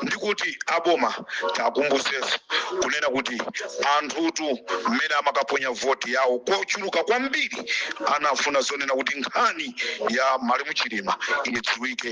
ndikuti aboma tikumbutsenso kunena kuti anthutu mmene amakaponya voti yawo kochuluka kwambiri anafuna zonena kuti nkhani ya malemu chilima idziwike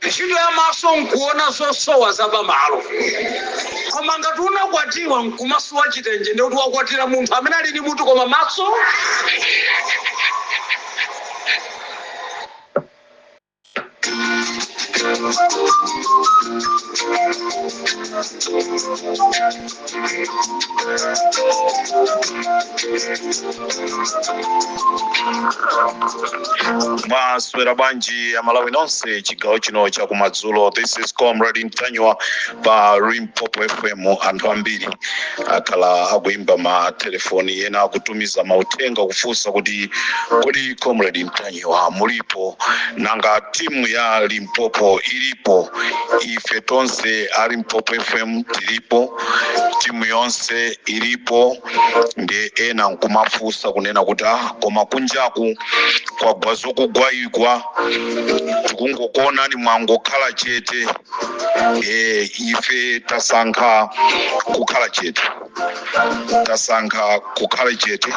Ntchito ya maso nkuona zosowa za pamalo. Koma ngati unakwatiwa nkumasowa chitenje ndekuti wakwatiwa ndi munthu amene ali ndi mutu koma maso mwaswera bwanji amalawi nonse chigawo chino cha kumadzulo this is comrade ntanyiwa pa limpopo fm anthu ambiri akhala akuimba matelefoni ena akutumiza mauthenga kufunsa kuti kodi comrade ntanyiwa mulipo nanga timu ya limpopo ilipo ife tonse a limpopo fm tilipo timu yonse ilipo ndi ena nkumafunsa kunena kuti ah, koma kunjaku kwagwa zakugwaigwa tikungokuonani mwangokhala chete e, ife tasankha kukhala chete tasankha kukhala chete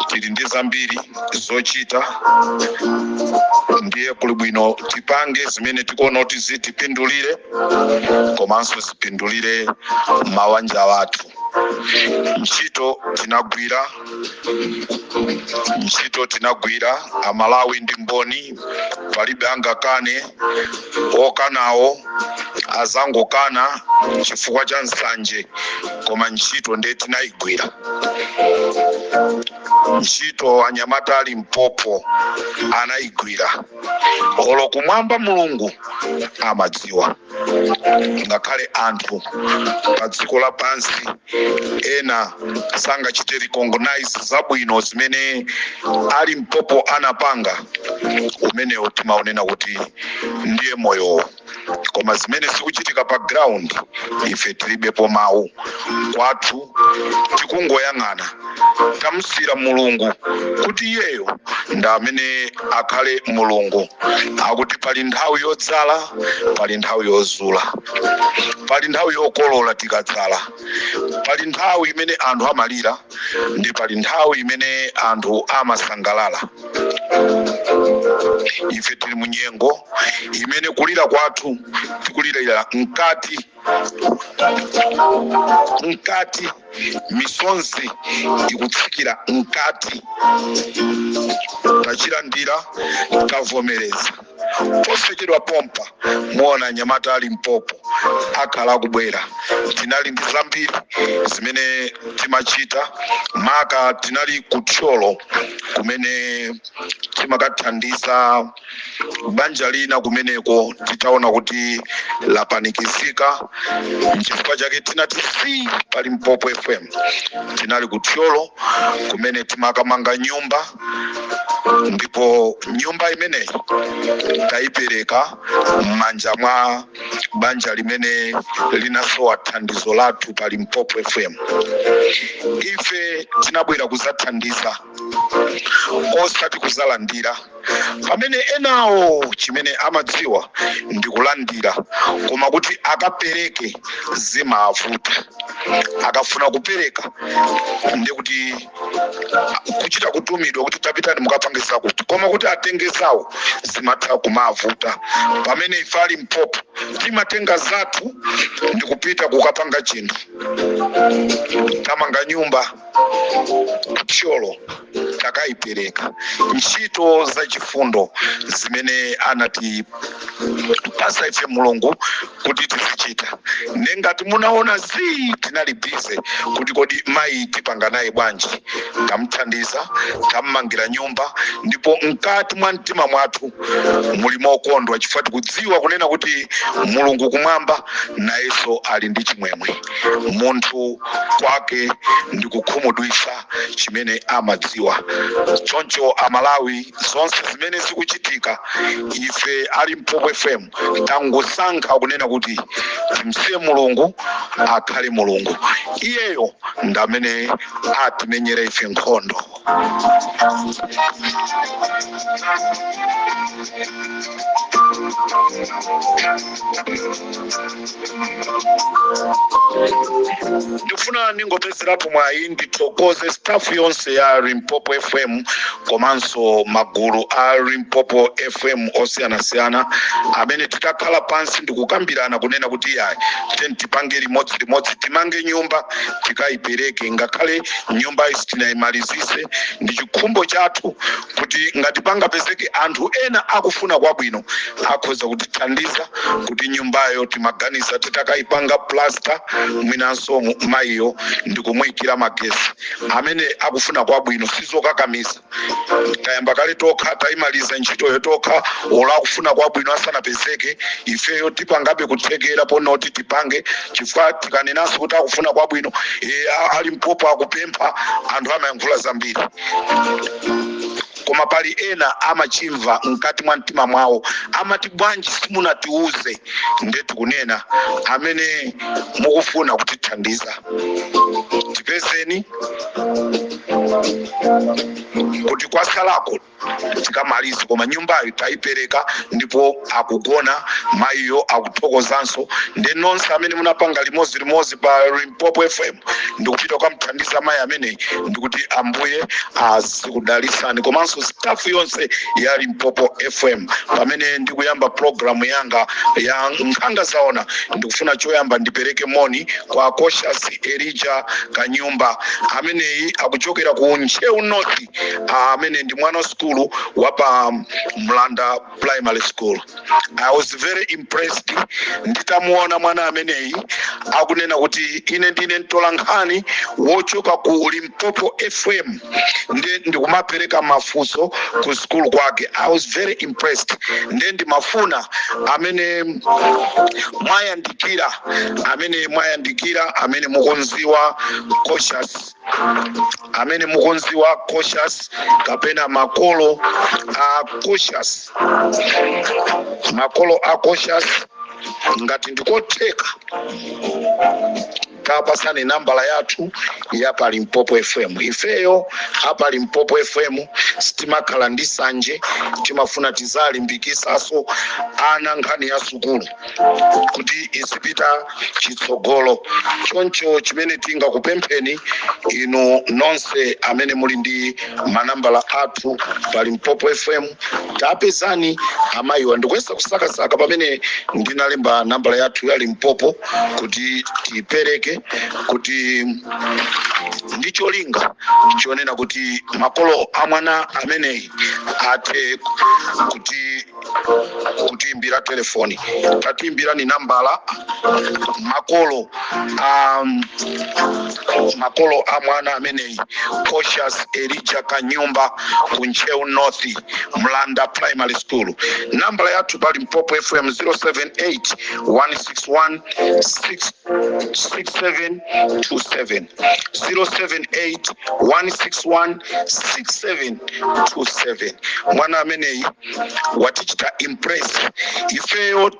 tili ndi zambiri zochita ndiye kuli bwino tipange zimene tikuona kuti zitipindulire komanso zipindulire mabanja athu ntchito tinagwira ntchito tinagwira amalawi ndi mboni palibe angakane okanawo adzangokana chifukwa cha nsanje koma ntchito ndiye tinayigwira ntchito anyamata a limpopo anayigwira olo kumwamba mulungu amadziwa ngakhale anthu pa dziko lapansi ena sangachite recognize zabwino zimene a limpopo anapanga umenewo timaunena kuti ndiye moyowo koma zimene zikuchitika pa ground ife tilibepo mawu kwathu tikungoyang'ana tamusiyira mulungu kuti iyeyo ndi amene akhale mulungu akuti pali nthawi yodzala pali nthawi yozula pali nthawi yokolola tikadzala pali nthawi imene anthu amalira ndi pali nthawi imene anthu amasangalala ife tili munyengo imene kulira kwathu tikulirira mkati mkati misonzi ikutsikira mkati tachilandira tavomereza posachedwa pompa muona anyamata a Limpopo akhala akubwera tinali ndi zambiri zimene timachita maka tinali ku Thyolo kumene timakathandiza banja lina kumeneko titaona kuti lapanikizika nchifukwa chake tinati zii pa Limpopo fm tinali ku thyolo kumene timakamanga nyumba ndipo nyumba imeneyi tayipereka m'manja mwa banja limene linasowa thandizo lathu pa Limpopo fm ife tinabwera kuzathandiza osati kuzalandira pamene enawo chimene amadziwa ndi kulandira koma kuti akapereke zimavuta akafuna kupereka ndi kuti kuchita kutumidwa kuti tapitani mukapange zakuti koma kuti atenge zawo zimatha kumavuta pamene ife a Limpopo timatenga zathu ndi kupita kukapanga chinthu tamanga nyumba ku thyolo takaipereka ntchito za chifundo zimene anatipasa ife mulungu kuti tizichita nde ngati munaona zii tinali bize kuti kodi mayi tipanga naye bwanji tamthandiza tammangira nyumba ndipo mkati mwa mtima mwathu muli mokondwa chifukwa tikudziwa kunena kuti mulungu kumwamba nayenso ali ndi chimwemwe munthu kwake ndi kukhumudwitsa chimene amadziwa. Choncho Amalawi, zonse zimene zikuchitika, ife a Limpopo FM tangosankha kunena kuti timsiye Mulungu akhale Mulungu, iyeyo ndamene atimenyere ife nkhondo. ndifuna ndingopezerapo mwayi ndithokoze staff yonse ya limpopo fm komanso magulu a limpopo fm osiyanasiyana amene titakhala pansi ndikukambirana kunena kuti iyayi tiyeni tipange limodzi limodzi timange nyumba tikayipereke ngakhale nyumba is tinaimalizitse ndi chikhumbo chathu kuti ngati pangapezeke anthu ena akufuna kwabwino akhoza kutithandiza kuti nyumbayo timaganiza titakaipanga plaster mwinanso mu- mayiyo ndikumuyikira magesi amene akufuna kwabwino sizokakamiza tayamba kale tokha tayimaliza ntchitoyo tokha olo akufuna kwabwino asanapezeke ifeyo tipangabe kuthekera ponoti tipange chifukwa tikanenanso kuti akufuna kwabwino eh, a- a limpopo akupempha anthu amayankhula zambiri koma pali ena amachimva mkati mwa mtima mwawo amati bwanji simunatiuze nde tikunena amene mukufuna kutithandiza tipezeni kuti kwasalako tikamalize koma nyumbayo taipereka ndipo akugona mayiyo akuthokozanso nde nonse amene munapanga limodzi limodzi pa limpopo fm ndikupita kukamthandiza mayi ameneyi ndikuti ambuye azikudalisani komanso stafu yonse ya limpopo fm pamene ndikuyamba programu yanga ya nkhanga zaona ndikufuna choyamba ndipereke moni kwa cautious elija kanyumba ameneyi akuchokera ku ntcheu north amene ndi mwana wa sukulu wa pa mlanda primary school i was very impressed nditamuona mwana ameneyi akunena kuti ine ndine mtolankhani wochoka ku limpopo fm ndi ndikumapereka mafunso ku sukulu kwake i was very impressed nde ndimafuna amene mwayandikira amene mwayandikira amene mukumdziwa cautious amene mukumdziwa cautious kapena makolo a cautious makolo a cautious ngati ndikotheka tawapatsani nambala yathu ya pa limpopo fm ifeyo a pa limpopo fm sitimakhala ndi sanje timafuna tiziwalimbikitsanso ana nkhani ya sukulu kuti izipita chitsogolo choncho chimene tingakupempheni inu nonse amene muli ndi manambala athu pa limpopo fm tawapezani amayiwa ndikuyesa kusakasaka pamene ndinalemba nambala yathu ya limpopo kuti tiyipereke kuti ndi cholinga chonena kuti makolo a mwana ameneyi athe kuti kutiimbira telefoni tatiimbirani nambala makolo a um, makolo a mwana ameneyi cautious elija kanyumba ku ntcheu north mlanda primary school nambala yathu pa limpopo fm 078 161 66727 078 161 6727 mwana ameneyi watichita impress ifeyo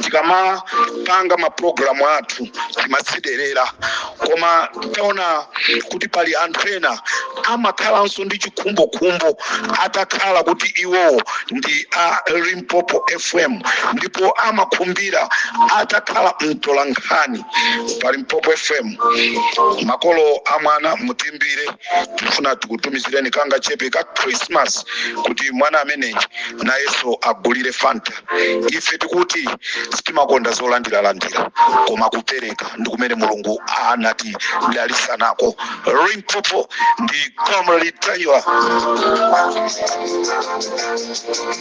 tikamapanga mapulogalamu athu timatsiderera koma taona kuti pali anthu ena amakhalanso ndi chikhumbokhumbo atakhala kuti iwo ndi a limpopo fm ndipo amakhumbira atakhala mtolankhani pa limpopo fm makolo a mwana mutimbire tikufuna tikutumizireni kangachepe ka christmas kuti mwana ameneyi nayenso agulire fanta ife tikuti sitimakonda zolandiralandira koma kupereka ndi kumene mulungu anatidalitsa nako limpopo ndi comrade ntanyiwa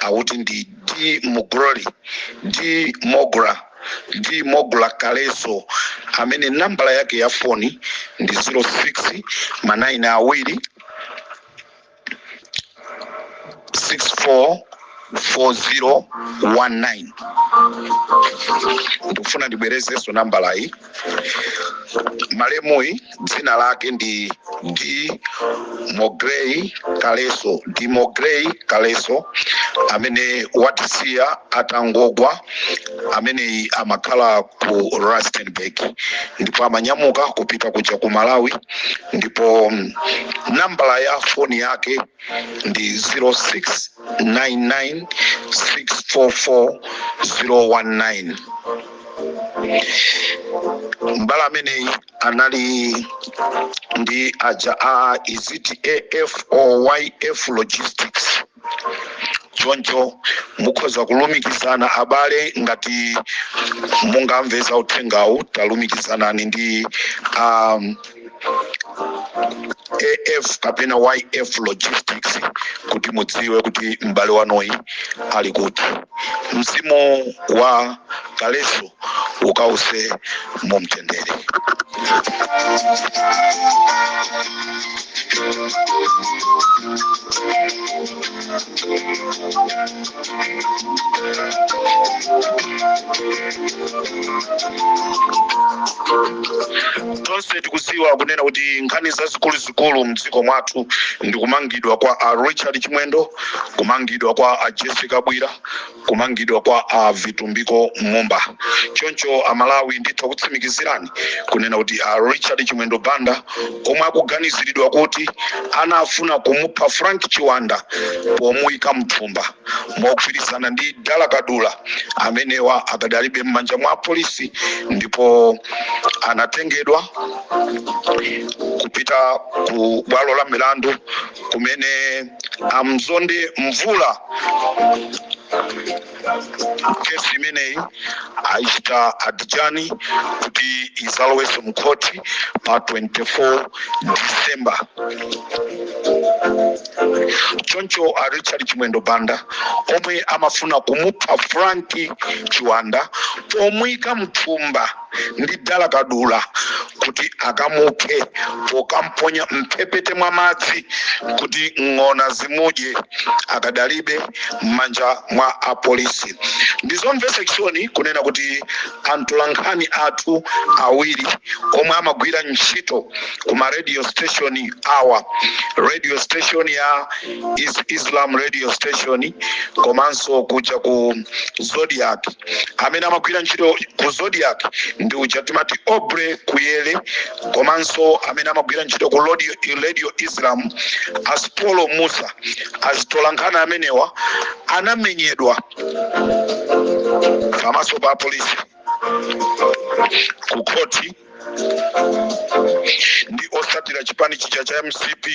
akuti ndi d mogroli d mogra d mogra kaleso amene nambala yake ya foni ndi 06 manayini awiri 644019 ndikufuna ndibwerezenso nambalayi malemuyi dzina lake ndi d mogrey kaleso d mogrey kaleso amene watisiya atangogwa ameneyi amakhala ku rustenburg ndipo amanyamuka kupita kuja ku malawi ndipo mm, nambala ya foni yake ndi 0699644019 m'bale ameneyi anali ndi aja a iziti afoyf logistics choncho mukhoza kulumikizana abale ngati mungamve za uthengawu talumikizanani ndi um, af kapena yf logistics kuti mudziwe kuti m'bale wanuyi ali kuti mzimu wa kaleso ukawuse mu mtendere tonse tikudziwa kunena kuti nkhani zazikuluzikulu mdziko mwathu ndi kumangidwa kwa a richard chimwendo kumangidwa kwa a jessie kabwila kumangidwa kwa a vitumbiko mumba choncho amalawi nditha kutsimikizirani kunena kuti a richard chimwendo banda omwe akuganiziridwa kuti anafuna kumupha frank chiwanda pomuyika mthumba mogwirizana ndi dala kadula amenewa akadalibe m'manja mwa polisi ndipo anatengedwa kupita ku bwalo la milandu kumene amzonde mvula kesi imeneyi ayichita adjourn kuti izalowese mu khoti pa 24 december choncho a richard chimwendo banda omwe amafuna kumupha frank chiwanda pomuyika mthumba ndi dala kadula kuti akamuphe pokamponya mphepete mwa madzi kuti ng'ona zimudye akadalibe m'manja mwa apolisi ndi zomvetsa chisoni kunena kuti antolankhani athu awiri omwe amagwira ntchito ku ma radio station awa radio station ya islam radio station komanso kuja ku zodiak amene amagwira ntchito ku zodiak ndi uja timati aubrey kuyere komanso amene amagwira ntchito ku radio islam asipolo musa azitolankhani amenewa anamenyedwa pamaso pa polisi ku khoti ndi osatira chipani chija cha mcp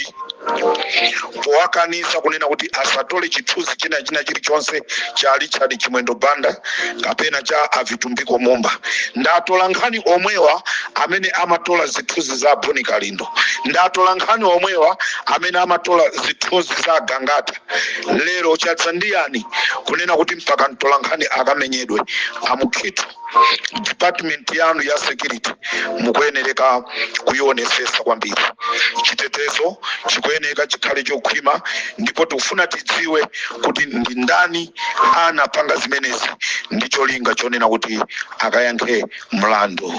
powakanisa kunena kuti asatole chithunzi china china chilichonse cha richard chimwendo banda kapena cha avitumbiko mumba ndatola nkhani omwewa amene amatola zithunzi za bon kalindo ndatola nkhani omwewa amene amatola zithunzi za gangata lero chadza ndiyani kunena kuti mpaka mtola nkhani akamenyedwe a mukhito department yanu ya security mukuyenereka kuionesesa kwambiri chitetezo chikuyeneka chikhale chokhwima ndipo tikufuna tidziwe kuti ndi ndani anapanga zimenezi ndi cholinga chonena kuti akayankhe mlandu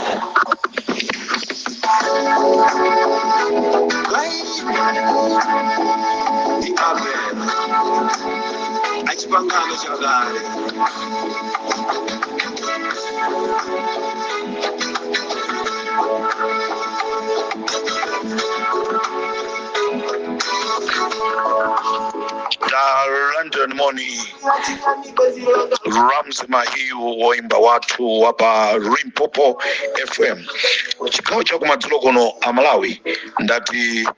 London Money Rams Mahiu woimba wathu wapa Limpopo FM chigawo chakumadzulo kuno a Malawi ndati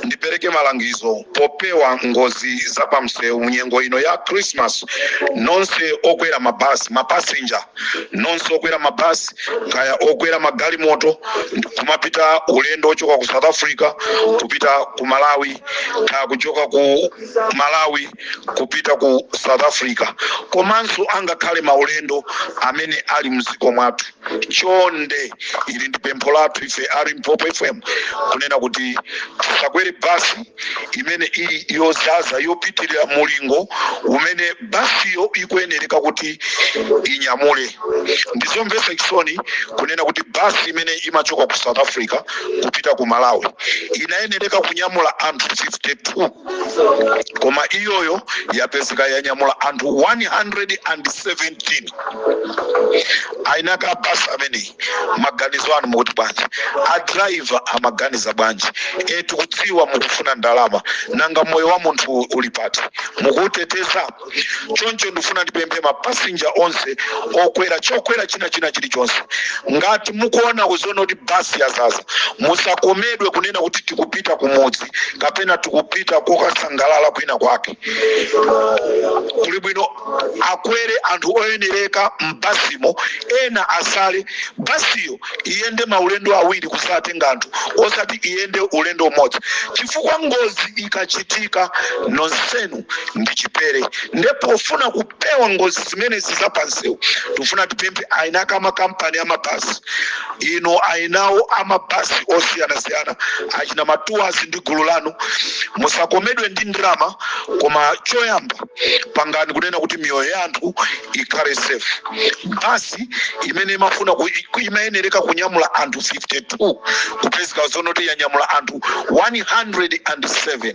ndipereke malangizo popewa ngozi za pamsewu munyengo ino ya christmas nonse okwera mabasi mapasenja nonse okwera mabasi kaya okwera magalimoto kumapita ulendo ochoka ku south africa kupita ku malawi kaya kuchoka ku malawi kupita ku south africa komanso angakhale maulendo amene ali mdziko mwathu chonde ili ndi pempho lathu ife a limpopo fm kunena kuti tisakwere basi imene ili yozaza yopitirira mulingo umene basiyo ikuyenereka kuti inyamule ndizomvetsa chisoni kunena kuti basi imene imachoka ku south africa kupita ku malawi inayenereka kunyamula anthu 52 koma iyoyo yapezeka yanyamula anthu 117 aina ake a basi ameneyi maganizo anu mukuti bwanji adraiva amaganiza bwanji e tikudziwa mukufuna ndalama nanga moyo wa munthu uli pati mukuuteteza choncho ndifuna ndipemphe mapasinja onse okwera chokwera china china chilichonse ngati mukuona kuzoona kuti basi yazaza musakomedwe kunena kuti tikupita kumudzi kapena tikupita kokasangalala kwina kwake kuli bwino akwere anthu oyenereka m'basimo ena asale basiyo iyende maulendo awiri kuzatenga anthu osati iyende ulendo umodzi chifukwa ngozi ikachitika nonsenu ndi chipere nde pofuna kupewa ngozi zimenezi za pansewu tikufuna tipemphe aina ake a makampani a mabasi ino ainawo a mabasi osiyanasiyana achina matuwazi ndi gulu lanu musakomedwe ndi ndalama koma choyamba pangani kunena kuti miyoyo ya anthu ikhale safe basi imene imafuna ku- iku- imayenereka kunyamula anthu 52 kupezeka zonoti yanyamula anthu 107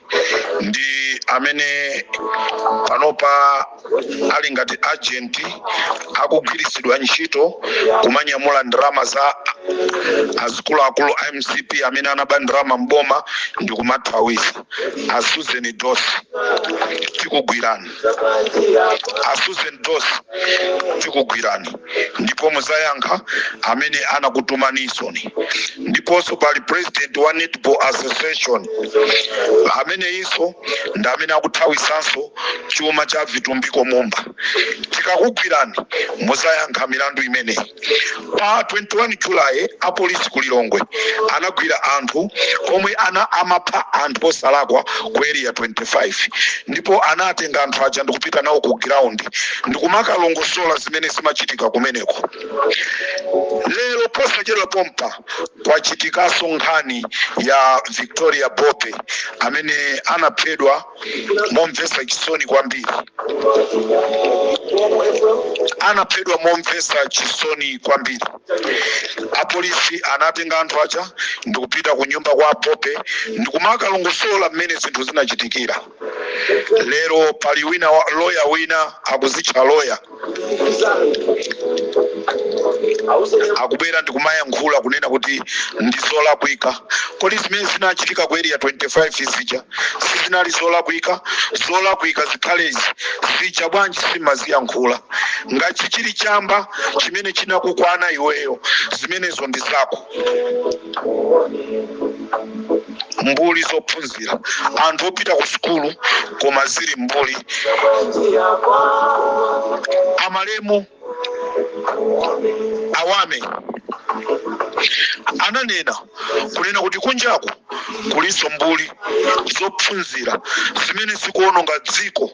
ndi amene panopa ali ngati agent akugwiritsidwa ntchito kumanyamula ndalama za azikuluakulu a mcp amene anaba ndalama m'boma ndi kumathawisa a susan dossi tikugwirani a susan dossi tikugwirani ndipo muzayankha amene anakutumanisoni ndiponso pali president wa netball association ameneyinso ndi amene akuthawisanso chuma cha vitumbiko mumba tikakugwirani muzayankha milandu imeneyi pa 21 July apolisi ku Lilongwe anagwira anthu omwe ana amapha anthu osalakwa ku area 25 ndipo anatenga anthu aja ndikupita nawo ku ground ndikumakalongosola zimene zimachitika kumeneko. Lero posachedwa pompa kwachitikaso nkhani ya Victoria Bobe amene anaphedwa momvetsa chisoni kwambiri anaphedwa momvetsa chisoni kwambiri apolisi anatenga anthu aja ndikupita ku nyumba kwa a Bobe ndikumakalongosola mmene zinthu zinachitikira lero pali wina wa- loya wina akuzitcha loya akubwera ndikumayankhula kunena kuti ndi zolakwika kodi zimene zinachitika ku area 25 zija sizinali zolakwika zolakwika zikhalezi zija bwanji sumaziyankhula ngati chili chamba chimene chinakukwana iweyo zimenezo ndi zako mbuli zophunzira anthu opita ku sukulu koma zili mbuli amalemu awame ananena kunena kuti kunjaku kulinso mbuli zophunzira zimene zikuononga dziko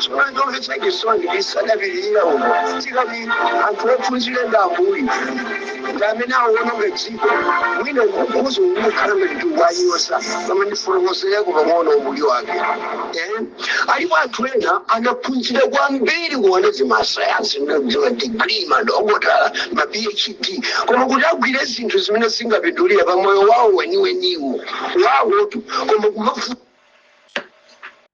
tsono chomvetsa chisoni ndisadapitirire umo tikati anthu ophunzira ndi mbuli ndi amene awononga dziko mwina ukukhala ngati tikuwanyoza koma ndifotokozereko pang'ono umbuli wake Eh, alipo anthu ena anaphunzira kwambiri kuona zimasayansi ndi madigrii madokotala ma phd koma kuti agwire zinthu zimene zingapindulire pa moyo wawo weniweniwo wawotu koma kumafu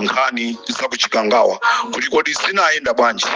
nkhani za kuchikangawa kuti kodi zinayenda bwanji